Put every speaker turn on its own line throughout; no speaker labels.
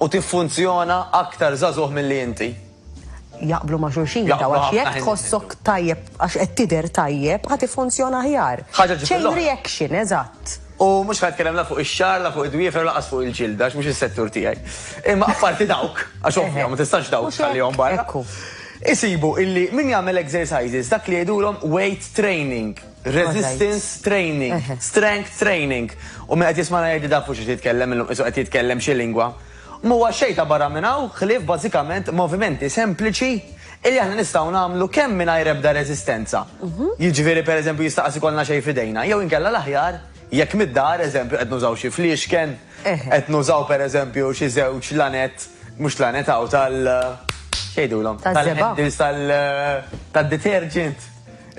u tiffunzjona aktar żagħżugħ milli inti. Jaqblu
ma' xulxin dawn Jaqblu għax ħafna jekk ħin tħossok insibu. tajjeb għax qed tidher tajjeb ħa tiffunzjona aħjar. Ħaġa ġġib Chain lill-oħra. reaction, eżatt. U mhux ħa nitkellem
la fuq ix-xagħar, la fuq id-dwiefer u lanqas fuq il-ġilda għax mhux is-settur tiegħi. Imma apparti dawk, għax ovvja Eħe. ma tistax dawk Mhux hekk? tħallihom barra. Ekku. Isibu illi min jagħmel exercises dak li jgħidulhom weight training. Resistance training, strength training. U min qed jismana jgħid da fuq xi jitkellem illum qisu qed jitkellem xi lingwa. M'huwa xejn ta' barra minn hawn ħlief bażikament movimenti sempliċi illi aħna nistgħu nagħmlu kemm mingħajr ebda resistenza. Jiġifieri pereżempju jista' qas ikollna xejn f'idejna jew inkella l-aħjar jekk mid-dar, eżempju qed nużaw xi fliexken, qed nużaw pereżempju xi żewġ lanett, mhux lanett hawn tal, x'jgħidulhom? Tal-żebgħa. Tal-handles tad-detergent.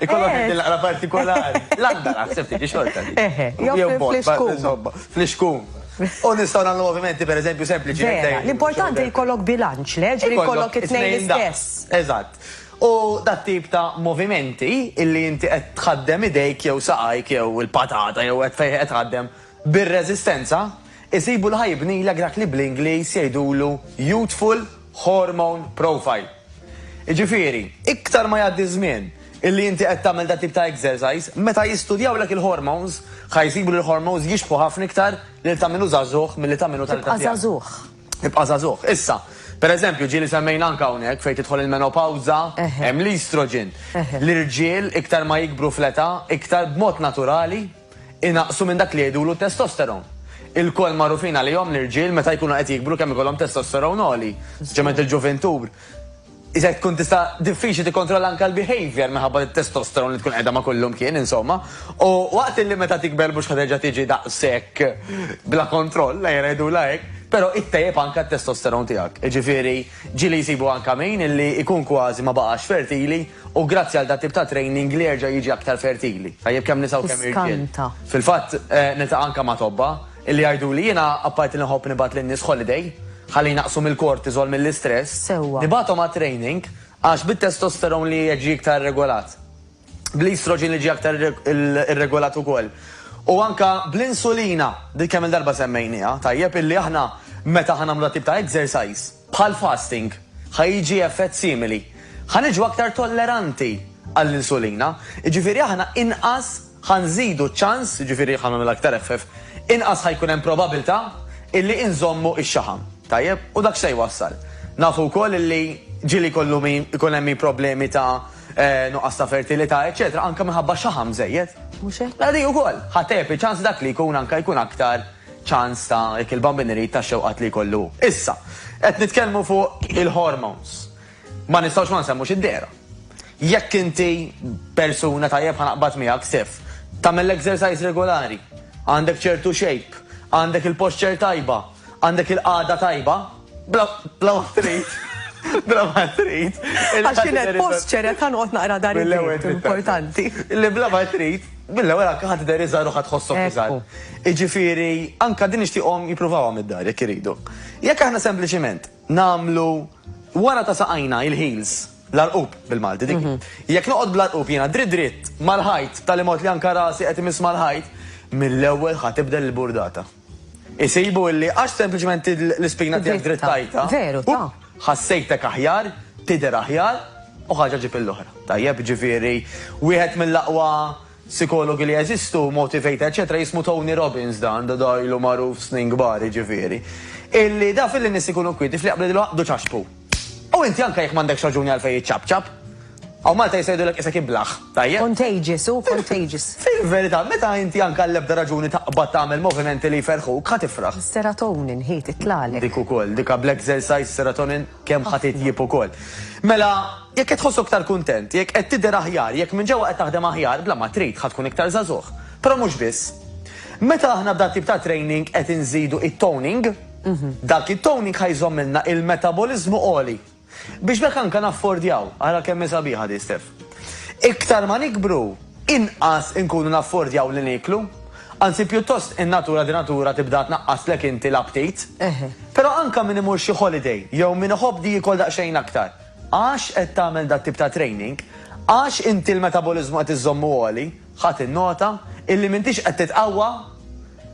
Ikollok qed naqra partikolari. L-għandar aħseb tiġi xorta. Eħe, jew
fl-iskun. Fl-iskun.
U nistgħu nagħmlu movimenti pereżempju sempliċi. L-importanti
jkollok bilanċ, le ġri jkollok it-tnejn l-istess. Eżatt.
U dat tip ta' movimenti illi inti qed tħaddem idejk jew saqajk jew il-patata jew qed fejn qed tħaddem bir-reżistenza, isibu l-ħajbnilek dak li bl-Ingliż jgħidulu youthful hormone profile. Jiġifieri, iktar ma jgħaddi ż-żmien illi inti qed tagħmel dat-tip ta' exercise, meta jistudjawlek il-hormones, ħa jsibu li l-hormones jixbħu ħafna iktar lil ta' min hu żagħżugħ milli ta' min hu ta' l-età tiegħek. Tibqa' żagħżugħ. Tibqa' żagħżugħ. Issa, per eżempju, ġieli semmejna anke hawnhekk fejn tidħol il-menopawża, hemm l-estrogen. L-irġiel iktar ma jikbru fl-età, iktar b'mod naturali, inaqsu minn dak li jgħidulu t-testosteron. Ilkoll magħrufin għalihom l-irġiel meta jkunu qed jikbru kemm ikollhom testosteron għoli, speċjalment il-ġuvintur. Iżda tkun tista' diffiċli tikkontrolla anke l-behaviour minħabba t-testosteron li tkun qiegħda ma' kullu mkien, insomma. U waqt li meta tikber mhux ħa terġa' tiġi daqshekk bla kontroll, ejja ngħidulha hekk, però ittejjeb anke t-testosteron tiegħek. Jiġifieri ġieli jsibu anke min illi jkun kważi ma baqax fertili, U grazzi għal dat-tip ta' training li jerġa' jiġi aktar fertili, tajjeb kemm nisa u kemm irġiel. Fil-fatt, niltaqa' anke ma' tobba, illi jgħiduli, jiena apparti li nħobb nibgħat lin-nies holiday, ħalli jnaqqsu mill-cortisol, mill-istress, nibgħathom għat-training għax bit-testosterone li qed jiġi iktar irregolat, bl-estrogen li ġie aktar irregolat ukoll, u anke bl-insulina, li kemm-il darba semmejnieha, tajjeb, illi aħna meta aħna nagħmlu dat-tip ta' exercise, Bħal fasting, ħa jiġi effett simili. Ħa niġu aktar tolleranti għall-insulina, jiġifieri aħna inqas ħa nżidu ċ-ċans, jiġifieri ħa nagħmilha aktar effeff, inqas ħa jkun hemm probabilità illi inżommu x-xaħam. Tajjeb? U dak x'se jwassal? Nafu wkoll illi ġieli jkollu min, ikun hemm min problemi ta' nuqqas ta' fertilità, eċċetera, anke minħabba xaħam żejjed. Mhux hekk? Mela din
ukoll ħa tgħepp
iċ-ċans li dak li jkun anke jkun aktar ċans ta' jekk il-bambin irid tax-xewqat li jkollu hu. Issa, qed nitkellmu fuq il-hormones. Ma nistgħux ma nsemmux id-dehra. Jekk inti persuna tajjeb ħa naqbad miegħek, Stef, tagħmel l-exercise regolari, għandek ċertu shape, għandek il-posture tajba, għandek il-qagħda tajba, Bla ma trid. Bla ma trid. Għax kien hemm
post ċere ta' noqgħod naqra dar il-ewwel importanti. Li bla ma
trid, mill-ewwel anke ħadd der iżgħar u ħadd ħossok iżgħar. Iġifieri, anke din nixtieqhom jippruvawhom id-dar jekk iridu. Jekk aħna sempliċiment nagħmlu wara ta' saqajna il-heels l-arqub bil-Malti dik. Mhm. Jekk noqgħod bl-arqub jiena dritt dritt mal-ħajt tal-imot li anke rasi qed imiss mal-ħajt, mill-ewwel ħatibdel il-burdata. Isibu illi għax sempliċement id l-ispina tiegħek drittajtha. Veru, ta.
Ħassejtek aħjar,
tidher aħjar u ħaġa ġġib il-oħra. Tajjeb, ġifieri wieħed mill-aqwa sikologi li jeżistu, motivator, eċċetera, jismu Tony Robbins dan, da ilu magħruf snin kbar, jiġifieri. Illi daf illi nies ikunu kwieti fl-jaqblu jaqbdu ċaxpu. U inti anke jekk m'għandekx raġuni għalfejn iċċapċap. Hawn Malta jista' jgħidulek qisek iblah, tajjeb? Contagious, hu
contagious. Fil-verità, meta
inti anke għall-ebda raġuni taqbad tagħmel movimenti li jferrħuk, ħa tifraħ. Is-serotonin hi
titlagħlek. Dik ukoll, dik
bl-exercise serotonin kemm ħa titjieb ukoll. Mela, jekk qed tħossok aktar kuntent, jekk qed tidher aħjar, jekk minn ġewwa qed taħdem aħjar, bla ma trid, ħa tkun iktar żagħżugħ. Però mhux biss. Meta aħna b'dan tip ta' training qed inżidu it-toning, Dak it-toning ħa jżommilna il-metaboliżmu għoli. Biex b'hekk anke naffordjaw, ara kemm hi sabiħa din Steph. Iktar ma nikbru, inqas inkunu naffordjaw li nieklu. Anzi pjuttost in-natura di natura tibda tnaqqaslek inti l-aptit. Però anke min imur xi holiday jew min iħobb di jiekol daqsxejn aktar, għax qed tagħmel dat-tip ta' training, għax inti l-metaboliżmu qed iżżommu għoli, Ħa tinnota illi m'intix qed titqawwa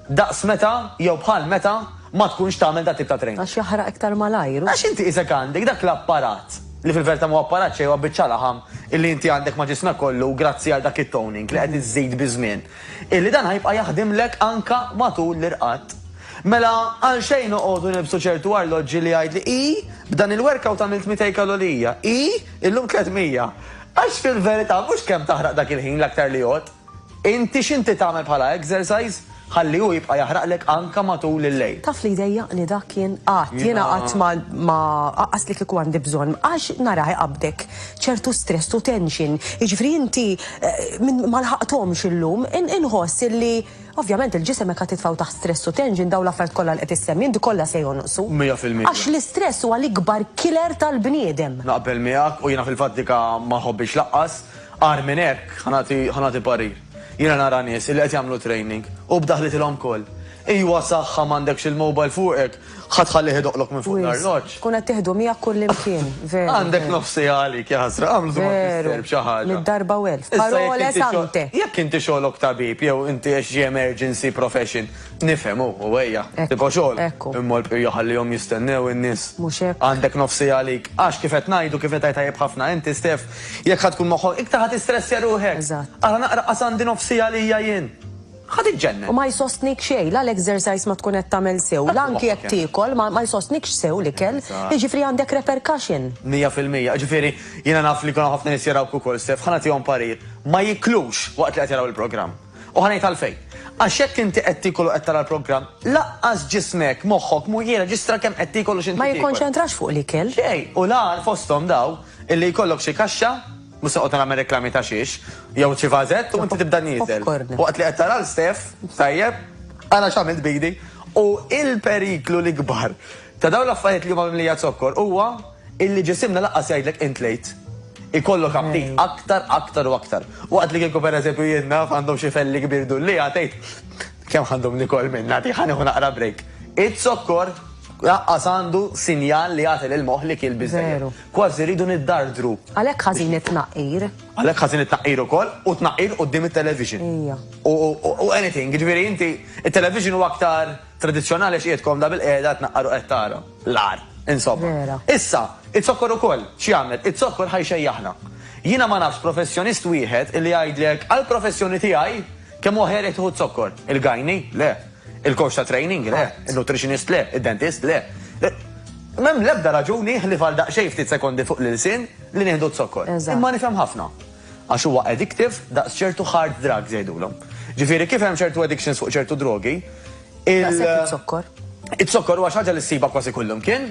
daqs meta jew bħal meta ma tkunx tagħmel dat-tip ta' training. Għax jaħraq iktar malajr
u. Għax inti isek għandek
dak l-apparat, li fil-verità m'huwa apparat xejn huwa biċċa laħam, illi inti għandek ma' ġismek kollu grazzi għal dak it-toning li qed iżżid biż-żmien, illi dan ħa jibqa' jaħdimlek anke matul l-irqad. Mela għalxejn noqogħdu nilbsu ċertu arloġġi li jgħidli, ii, b'dan il-workout għamilt 200 kalorija, ii, illum 300. Għax fil-verità mhux kemm taħraq dak il-ħin l-aktar li jgħodd. Inti x'inti tagħmel bħala exercise ħalli hu jibqa' jaħraqlek anke matul il-lejl. Taf li jdejjaqni dak
jien qatt, jiena qatt ma aqqas li kieku għandi bżonn għax narah iqabbdek ċertu stress u tension. Jiġifieri inti ma lħaqthomx illum inħoss illi Ovvjament il-ġisem jekk titfgħu taħt stress u tension dawn l-affarijiet kollha li qed issemmi inti kollha se jonqsu. Mija fil-mija. Għax l-istress
huwa
l-ikbar killer tal-bniedem. Naqbel miegħek u
jiena fil-fatt dika ma nħobbhiex lanqas. Agħar minn hekk, ħa nagħti ħa nagħti parir. Jiena nara nies illi qed jagħmlu training u b'daħlitilhom koll. Ejwa saħħa m'għandekx il-mobile fuqek Ħa tħallih idoqqlok minn fuq l-arloġġ. Tkun qed tieħdu miegħek
kullimkien, veru. Għandek nofs siegħa għalik,
ja ħasra, għamlu dwar mister b'xi ħaġa. Mitt darba u elf. Parole
sante. Jekk inti xogħlok
tabib jew inti għex xi emergency profession, nifhem hu, u ejja, tibqa' xogħol. Ekku. Imma l-bqija ħallihom jistennew in-nies. Mhux hekk. Għandek nofs
siegħa għalik.
Għax kif qed ngħidu, kif qed tgħid tajjeb ħafna inti Stef, jekk ħa tkun moħħok iktar ħa tistressja ruħek. Eżatt. Ara naqra qas
għandi nofs
siegħa għalija jien. Ħa tiġġennen! U ma jsostnik xejn,
la l-exercise ma tkun qed tagħmel sew, la anki jekk tiekol ma ma jsostnikx sew l-ikel. Jiġifieri għandek repercussion. Mija fil-mija. Jiġifieri
jiena naf li jkun hawn ħafna nies jarawk ukoll, Steph, ħa nagħtihom parir, ma jiklux waqt li qed jaraw il-programm. U ħa ngħid għalfejn. Għax jekk inti qed tiekol u qed tara l-programm, laqqas ġismek, moħħok mhu jirreġistra kemm qed tiekol u x'inti tiekol. Ma jikkonċentrax fuq
l-ikel. Xejn. U l-agħar
fosthom dawn illi jkollok xi kaxxa, Mhux se noqgħod nagħmel reklami ta' xiex, jew xi vażett u inti tibda nieżel. Waqt li qed tara l Steph, tajjeb, ara x'għamilt b'idi. U l-periklu l-ikbar ta' dawn l-affarijiet li huma mimlija zokkor huwa illi ġisimna lanqas jgħidlek int lejt. Ikollok aptit aktar, aktar u aktar. Waqt li kieku pereżempju jien naf għandhom xi felli kbir dullieha tgħid, Kemm ħa ndum nikol minnha di, ħa nieħu naqra break. Iz-zokkor lanqas għandu sinjal li jagħti lill-moħħ li kiel biżżejjed. Kważi rridu niddardru. Għalhekk ħażin
it-tnaqqir. Għalhekk ħażin it-tnaqqir
ukoll u t-tnaqqir quddiem it-television. Ejja. U anything, jiġifieri inti it-television huwa aktar tradizzjonali għax qiegħed komda bilqiegħda tnaqqar u qed tara l-agħar. Insomma. Vera. Issa, iz-zokkor ukoll x'jagħmel? Iz-zokkor ħa jxejjaħna. Jiena ma nafx professjonist wieħed illi jgħidlek għall-professjoni tiegħi kemm huwa ħerek tieħu z-zokkor. Il-gajni? Le. Il-coach ta' training le, in-nutritionist le, id-dentist le. M'hemm l-ebda raġuni ħlief għal daqsxejn ftit sekondi fuq l-ilsien li nieħdu z-zokkor. Imma nifhem ħafna. Għax huwa addictive daqs ċertu hard drugs jgħidulhom. Ġifieri kif hemm ċertu addictions fuq ċertu drogi, il- Daqshekk
iz-zokkor. Iz-zokkor
huwa xi ħaġa li ssibha kważi kullimkien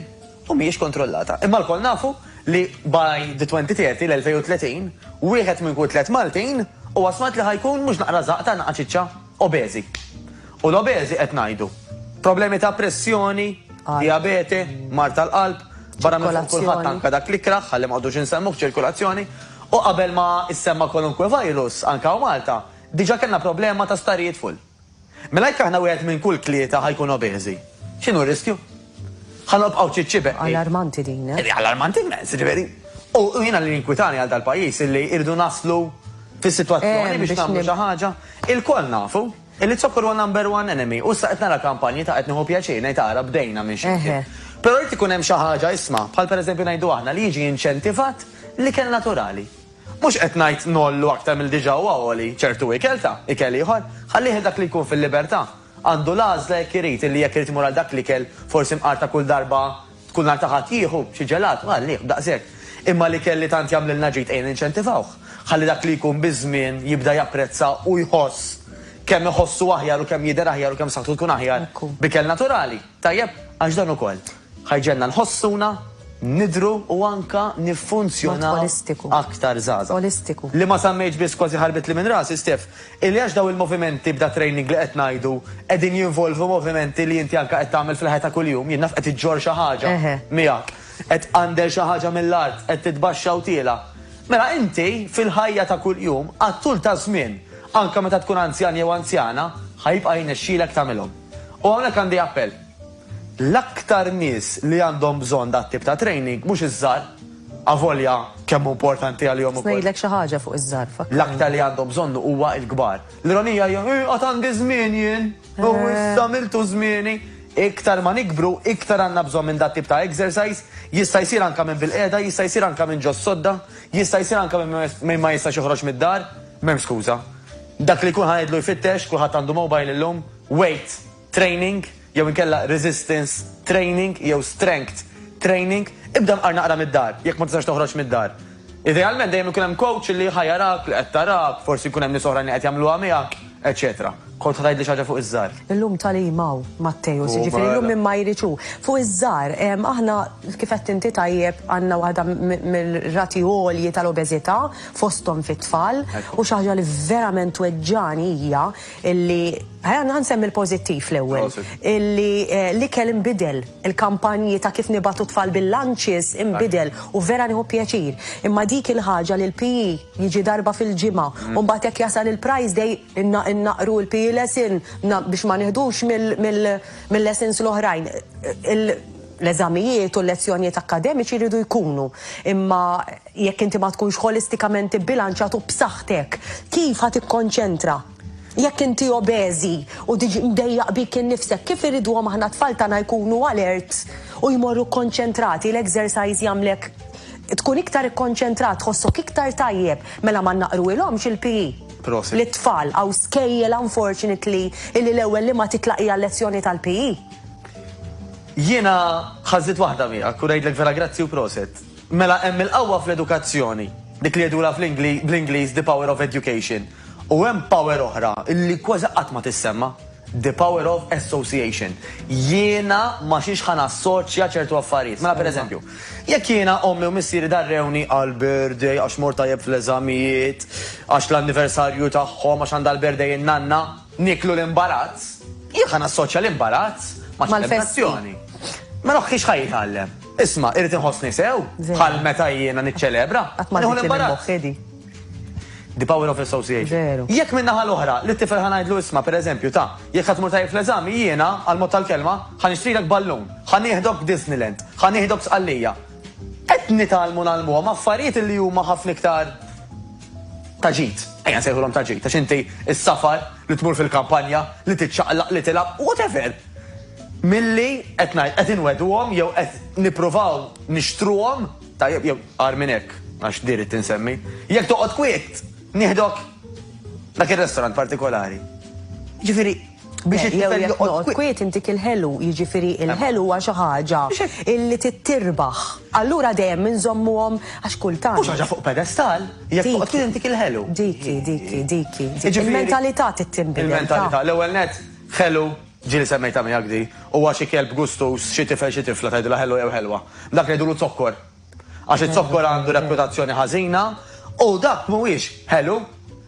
u mhijiex kontrollata. Imma lkoll nafu li by the 2030, l-2030, wieħed minn kull tliet Maltin huwa smart li ħa jkun mhux naqra żaqta, naqra ċiċċa. obeżi. U l-obeżi qed ngħidu problemi ta' pressjoni, dijabete, mard tal-qalb, barra minn fuq kulħadd anke dak l-ikrah ħalli ma qogħdux insemmuh ċirkulazzjoni, u qabel ma issemma kwalunkwe virus anke hawn Malta, diġà kellna problema ta' sptarijiet full. Mela jekk aħna wieħed minn kull tlieta ħa jkun obeżi, x'inhu r-riskju? Ħa nobqgħu ċiċċi beqli. Allarmanti din,
eh? Allarmanti immens,
jiġifieri. U jiena li jinkwitani għal dal-pajjiż illi irridu naslu fis-sitwazzjoni biex nagħmlu xi ħaġa. Ilkoll nafu illi z-zokkor huwa number one enemy u issa qed nara kampanji ta' qed nieħu pjaċir ngħid ara bdejna minn xi mkien. Però jrid ikun hemm xi ħaġa isma', bħal pereżempju ngħidu aħna li jiġi inċentivat l-ikel naturali. Mhux qed ngħid ngħollu aktar milli diġà huwa għoli ċertu ikel ta', ikel ieħor. Ħallih dak li jkun fil-libertà. Għandu l-għażla jekk irid, illi jekk irid imur għal dak l-ikel, forsi mqar ta' kull darba tkun nhar ta' Ħadd jieħu xi ġelat, għalih, daqshekk. Imma l-ikel li tant jagħmlilna ġid ejja ninċentivawh, ħalli dak li jkun biż-żmien jibda japprezza u jħoss kemm iħossu aħjar u kemm jidher aħjar u kemm saħħtu tkun aħjar b'ikel naturali. Tajjeb, għax dan ukoll ħa jġegħelna nħossuna, nidhru u anke niffunzjonaw aktar żgħażagħ. Li ma semmejtx
biss
kważi ħarbitli minn rasi, Stef, illi għax dawn il-movimenti b'da training li qed ngħidu qegħdin jinvolvu movimenti li inti anke qed tagħmel fil-ħajja ta' kuljum, jien naf qed iġġorr xi ħaġa miegħek, qed tqandel xi ħaġa mill-art, qed titbaxxa u tiela'. Mela inti fil-ħajja ta' kuljum għat-tul taż-żmien, anke meta tkun anzjan jew anzjana, ħa jibqa' jnexxilek tagħmilhom. U hawnhekk għandi appell. L-aktar nies li għandhom bżonn dat-tip ta' training mhux iż-żgħar, avolja kemm hu importanti għalihom ukoll. Ħa ngħidlek xi ħaġa fuq iż-żgħar,
fakkarni. L-aktar li għandhom bżonnu
huwa l-kbar. L-ironija hija, eh, għad għandi żmien jien, u issa miltu żmieni. Iktar ma nikbru, iktar għandna bżonn minn dat-tip ta' exercise, jista' jsir anke minn bil-qiegħda, jista' jsir anke minn ġo s-sodda, jista' jsir anke minn min ma jistax joħroġ mid-dar. M'hemm skuża. Dak li kulħadd jgħidlu jfittex, kulħadd għandu mobile illum, weight training jew inkella resistance training jew strength training, ibda mqar naqra mid-dar, jekk ma tistax toħroġ mid-dar. Idealment dejjem ikun hemm coach li ħa jarak, li qed tarak, forsi jkun hemm nies oħrajn li qed jagħmluha miegħek, eċċetera. Kont ħa tgħidli xi ħaġa fuq iż-żgħar? Illum tagħlim hawn, Matteus, jiġifieri llum min ma jridx hu. Fuq iż-żgħar, aħna kif għedt inti tajjeb għandna waħda mir-rati għolji tal-obeżità, fosthom fit-tfal, u xi ħaġa li verament tweġġagħni hija li ħa nsemmi l-pożittiv l-ewwel, li l-ikel inbidel, il-kampanji ta' kif nibgħatu t-tfal bil-lunches inbidel u vera nieħu pjaċir. Imma dik il-ħaġa li l-PE jiġi darba fil-ġimgħa u mbagħad jekk jasal il-prize day innaqqru l-PE lesson biex ma nieħdux mill-lessons l-oħrajn. L-eżamijiet u l-lezzjonijiet akkademiċi jridu jkunu, imma jekk inti ma tkunx ħolistikament ibbilanċjat u b'saħħtek, kif ħa tikkonċentra? Jekk inti obeżi u diġ mdejjaq bik innifsek, kif irriduhom aħna t-tfal tagħna jkunu alert u jmorru kkonċentrati? L-exercise jagħmlek tkun iktar ikkonċentrat, tħossok iktar tajjeb. Mela ma nnaqruhilhomx il-PE. Prosit. Lit-tfal, hawn skejjel unfortunately illi l-ewwel li ma titlaq hija l-lezzjoni tal-PE. Jiena ħażit waħda miegħek u ngħidlek vera grazzi u proset. Mela hemm il-qawwa fl-edukazzjoni, dik li jgħidulha bl-Ingliż the power of education. U hemm power oħra li kważi qatt ma tissemma, the power of association. Jiena ma xiex ħa nassoċja ċertu affarijiet. Mela pereżempju, jekk jiena ommi u missieri darrewni għal birthday għax mort tajjeb fl-eżamijiet, għax l-anniversarju tagħhom għax għandha l-birthday in-nanna, Nieklu l-imbarazz? Jien ħa nassoċja l-imbarazz mat-tentazzjoni. Ma noħħix ħa jitgħallem. Isma', irrid inħossni sew, bħal meta jiena niċċelebra. Qatt ma l-imbarazz. The power of association. Jekk minn naħa l-oħra, li t-tifel ħanajdlu isma, per eżempju, ta' jekk ħatmur tajjeb fl-eżami, jiena, għal-mod tal-kelma, ħan ixtrilek ballun, ħan nieħdok Disneyland, ħan nieħdok sqallija. Qed nitalmu nalmu ma' affarijiet li huma ħafna iktar Ta' ġid, ejja nsejħulhom ta' ġid, għax inti s-safar, li tmur fil-kampanja, li tiċċaqlaq, li tilgħab, whatever, milli qed ngħid, qed inwegħduhom jew qed nippruvaw nixtruhom, tajjeb, jew agħar minn hekk, għax di ridt insemmi, jekk toqgħod kwiet, nieħdok dak ir-restaurant partikolari. Jiġifieri, Biex it-tifel joqgħod kwiet intik il-ħelu,
jiġifieri l-ħelu huwa xi ħaġa li tittirbaħ. Allura dejjem inżommuhom għax kultant. Mhux ħaġa fuq pedestal,
jekk toqgħod kwiet intik il-ħelu. Dik hi, dik
hi, dik hi. Il-mentalità trid tinbidel. Il-mentalità. L-ewwel nett,
ħelu, ġieli semmejtha miegħek di, huwa xi kelb gustuż, xi tifel, xi tifla tgħidilha ħelu jew ħelwa. Dak li jgħidulu zokkor, Għax iz-zokkor għandu reputazzjoni ħażina u dak mhuwiex ħelu.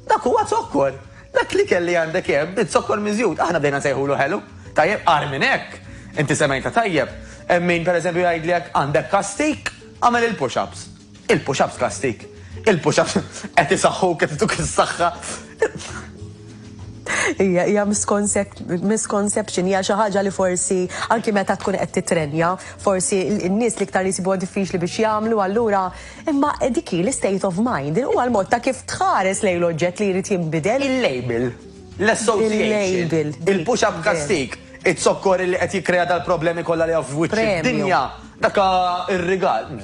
Dak huwa zokkor. Dak l-ikel li għandek hemm hi zokkor miżjud. Aħna bdejna nsejħulu ħelu. Tajjeb, agħar minn hekk, inti semgħitha tajjeb, hemm min pereżempju jgħidlek għandek kastig, agħmel il-push ups. Il-push ups kastig? Il-push ups qed isaħħuk, qed ituk is-saħħa.
Hija hija misconception, hija xi ħaġa li forsi anki meta tkun qed titrenja, forsi n-nies li iktar jisibuha diffiċli biex jagħmlu allura imma dik hi l-state of mind, huwa l-mod ta' kif tħares lejn l-oġġett li jrid jinbidel. Il-label,
l-association, il-push-up kastig, iz-zokkor li qed jikkrea dal-problemi kollha li hawn f'wiċċ id-dinja, dak ir-rigal.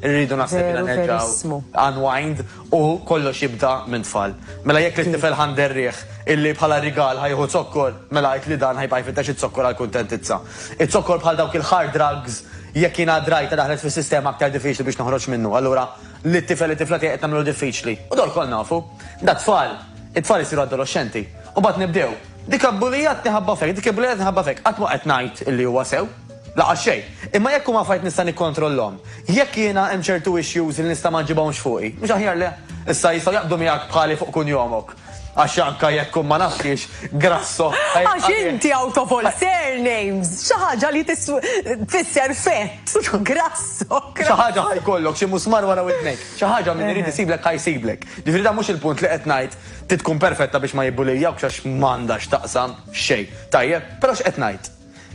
Irridu naħseb li nerġgħu unwind U kollox jibda minn tfal. Mela jekk lit-tifel ħa nderriegħ illi bħala rigal ħa jieħu zokkor, mela għid li dan ħa jibqa' jfittex iz-zokkor għall-kuntentizza. Iz-zokkor bħal dawk il-hard drugs, jekk jiena drajta daħlet fis-sistema aktar diffiċli biex noħroġ minnu. Allura, lit-tifel, it-tifla tiegħi qed nagħmlu diffiċli. U dawn lkoll nafu. Da tfal. It-tfal isiru adoloxxenti. U mbagħad nibdew. Dik abbulijatni ħabba f'hekk, dik ibbulijatni ħabba f'hekk. Qatt mhu qed ngħid illi huwa sew. Laqas xejn. Imma jekk huma affarijiet nista' nikkontrollhom, jekk jiena hemm ċertu issues li nista' ma nġibhomx fuqi, mhux aħjar le? Issa jistgħu jaqbdu miegħek bħali fuq kunjomok. Għax anke jekk hu ma nafx xiex, Grasso, ħa jibqa' Għax inti
out of all surnames, xi ħaġa li tfisser fett, Grasso. Xi ħaġa ħa
jkollok, xi musmar wara widnejk. Xi ħaġa min irid isiblek ħa jsiblek. Ġifieri dan mhux il-punt li qed ngħid trid tkun perfetta biex ma jibbuliljawkx għax m'għandha x'taqsam xejn. Tajjeb? Però x'qed ngħid?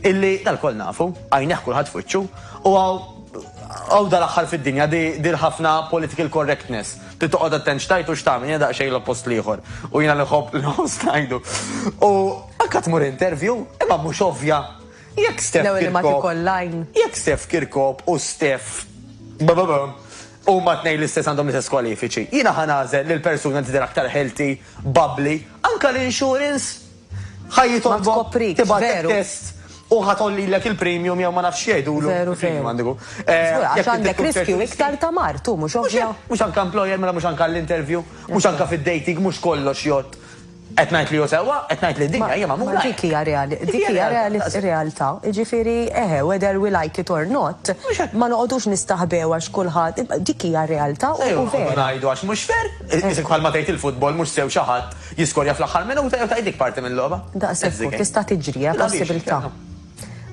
Illi l-koll nafu, għajnejh kulħadd f'wiċċu, u hawn dal-aħħar fid-dinja dir ħafna political correctness, trid toqgħod attent x'tgħid u x'tagħmel, jiena daqsxejn l-oppost l-ieħor, u jiena li nħobb l-host ngħidu. U anke tmur interview, imma mhux ovvja. Jekk Steph Kirkop. L-ewwel imma tikoll l-għajn. Jekk Steph Kirkop u Steph huma tnejn l-istess għandhom l-istess kwalifiċi. Jiena ħa nagħżel lill-persuna tidher aktar healthy, bubbly, anke l-insurance Ħa jitolbok tibgħatlek test u ħa tollilek il-premium jew ma nafx jgħidulu. Veru veru. Għandiku.
Eh, għax għandek riskju iktar ta' mar, tu mhux ovvja. Mhux anke employer mela
mhux anke l-interview, mhux anke fid-dating mhux kollox jgħod. Qed ngħid li jew sewwa, qed ngħid li dinja hija magħmula. Dik hija dik
hija realtà. Jiġifieri eħe whether we like it or not, ma noqogħdux nistaħbew għax kulħadd dik hija realtà u vera. Ngħidu għax mhux fair,
isek bħalma tgħid il-futbol mhux sew xi ħadd. Jiskorja fl-aħħar minuta jew tgħidlik parti mil-logħba. Daqshekk hu, tista'
tiġri, hija possibilità.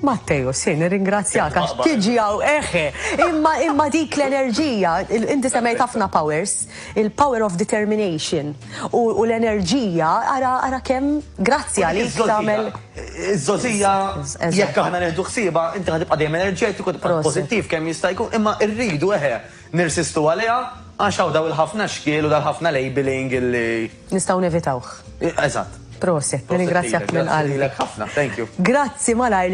Matteo, si, nirringrazzjak għax tiġi hawn eħe. Imma imma dik l-enerġija, inti semmejt ħafna powers, il-power of determination u l-enerġija ara ara kemm grazzi għalik tagħmel. Iż-żożija
jekk aħna nieħdu ħsiebha, inti ħad tibqa' dejjem enerġetiku, tibqa' pożittiv kemm jista' jkun, imma rridu eħe Nirsistu għaliha għax hawn daw il-ħafna xkiel u dal-ħafna labelling illi. Nistgħu nevitawh.
Eżatt.
Prosit,
nirringrazzjak minn qalbi. Prosit
lilek
ħafna. Thank you.
Grazzi
malajr.